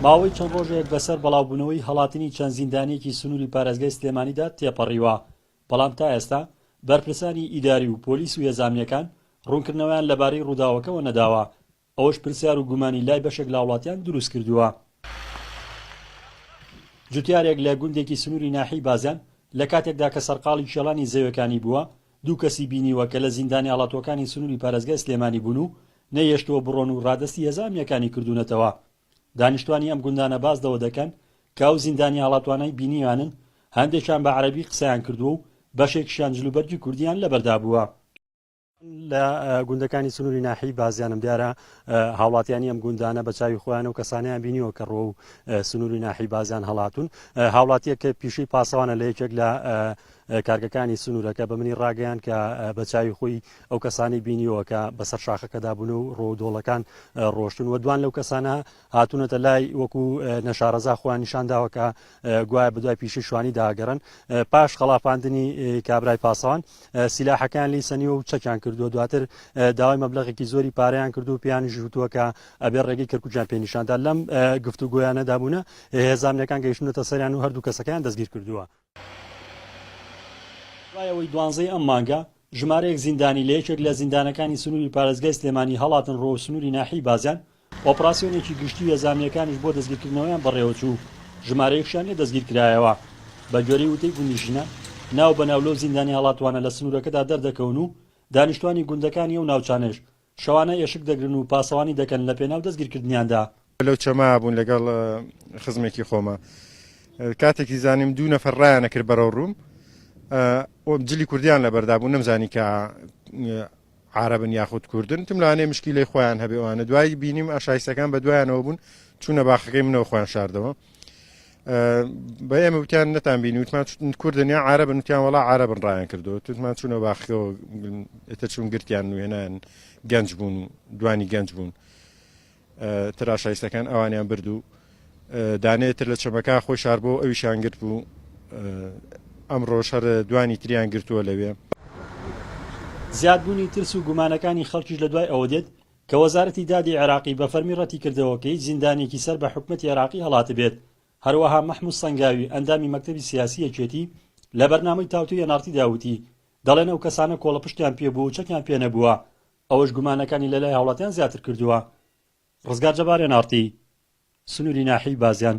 ماوەی چەند ڕۆژێک بەسەر بەڵاوبوونەوەی هەڵاتنی چەند زیندانیەکی سنووری پارێزگای سلێمانیدا تێپەڕیوە، بەڵام تا ئێستا بەرپرسانی ئیداری و پۆلیس و یەزامییەکان ڕوونکردنەوەیان لەبارەی ڕووداوەکەوە نەداوە، ئەوەش پرسیار و گومانی لای بەشێک لەهاوڵاتیان دروستکردووە. جوتیارێک لە گوندێکی سنووری ناحیەی بازیان لەکاتێکدا کە سەرقاڵی کێڵانی زەوێکانی بووە، دوو کەسی بینیوە کە لە زیندانە ئاڵاتووەکانی سنووری پارێزگای سلێمانی بوون و نەیهێشتووە بڕۆن و رادەستی هێزە ئەمنییەکانی کردوونەتەوە. دانیشتووانی ئەم گوندانە باس لەوە دەکەن کە ئەو زیندانە ئاڵاتووانەی بینیویانن هەندێکیان بە عەرەبی قسەیان کردووە و بەشێکیشیان جلوبەرگی کوردییان لەبەردا بووە. لە گوندەکانی سنووری ناحیەی بازیانم دیارە هاوڵاتییانی ئەم گوندانە بە چاوی خۆیان ئەو کەسانەیان بینیوە کە رووەو سنووری ناحیەی بازیان هەڵاتوون. هاوڵاتییەک کە پیشەی پاسەوانە لە یەکێک لە کارگەکانی سنوورەکە بە منی ڕاگەیاند کە بە چاوی خۆی ئەو کەسانەی بینیوە کە بەسەر شاخەکەدا بوون و ڕۆ دۆڵەکان ڕۆشتون و دوان لەو کەسانە هاتوونەتە لای وەکو نەشارەزا خۆیان نیشان داوە کە گوایە بەدوای پیشی شوانی داگەڕن پاش خەڵافاندنی کابرای پاسەوان سیلاحەکان لی سەنیوە و چەکیان کردووە دواتر داوای مەبلغێکی زۆری پاریان کردو و پێیان ژوتووە کە ئەبێ ڕێگەی کەرکوچیان پێ نیشاندا لەم گفتوگویانەدا بوونە هێزانەکان گەیشتونەتە سەریان و هەردوو کەسەکەیان دەستگیر کردووە دوای ئەوەی دوانزەی ئەم مانگە ژمارەیەک زیندانی لە یەکێک لە زیندانەکانی سنووری پارێزگای سلێمانی هەڵاتن ڕۆ و سنووری ناحیەی بازیان، ئۆپڕاسیۆنێکی گشتی یەزامییەکانیش بۆ دەستگیرکردنەوەیان بەڕێوەچوو، ژمارەیەکشیان لێ دەستگیرکرایەوە. بەگوێرەی وتەی گوندنشینان، ناو بە ناو لەو زیندانی هەڵاتووانە لە سنوورەکەدا دەردەکەون و دانیشتووانی گوندەکانی ئەو ناوچانەش شەوانە ئێشک دەگرن و پاسەوانی دەکەن لە پێناو دەستگیرکردنیاندا. لەو چەمە بوون لەگەڵ خزمێکی خۆمە کاتێکی زانیم دوو نەفەر ڕایانە کرد بەرەو ڕووم ئۆم جلی کوردیان لە بەردا بوو نەمزانی کە عربن یاخود کوردن تم لەوانێ مشکی لەی خۆیان هەبێوانە دوایی بینیم ئاشایستەکان بە دوایانەوە بوون چوونە باخەکەی منەوە خۆیان شاردەوە بە ئێمە وتیان نەتان بین وتمان کوردن یا عربن وتیان وڵا عربن ڕایان کردو توتمان چونە باخەوە ئێتە چون گرتیان نوێنان گەنج بوون و دوانی گەنج بوون تراشایستەکان ئەوانیان بردو دانێتر لە چەمەکە خۆی شار بۆ ئەوی شانگرت بوو ئەم ڕۆژهر دوانی تریان گرتووە لەوێ زیادبوونی ترس و گومانەکانی خەڵکیش لە دوای ئەوە دێت کە وەزارەتی دادی عێراقی بە فەرمی رەتیکردەوە کە هیچ زیندانییەکی سەر بە حکومەتی عێراقی هەڵاتبێت، هەروەها مەحمود سەنگاوی ئەندامی مەکتەبی سیاسی یەکێتی لە بەرنامەی تاوتوێی ئێناڕتیدا وتی، دەڵێن ئەو کەسانە کۆڵەپشتیان پێبووە و چەکیان پێنەبووە، ئەوەش گومانەکانی لەلای هاوڵاتیان زیاتر کردووە. رزگار جەبار ئێناڕتی سنووری ناحیەی بازیان.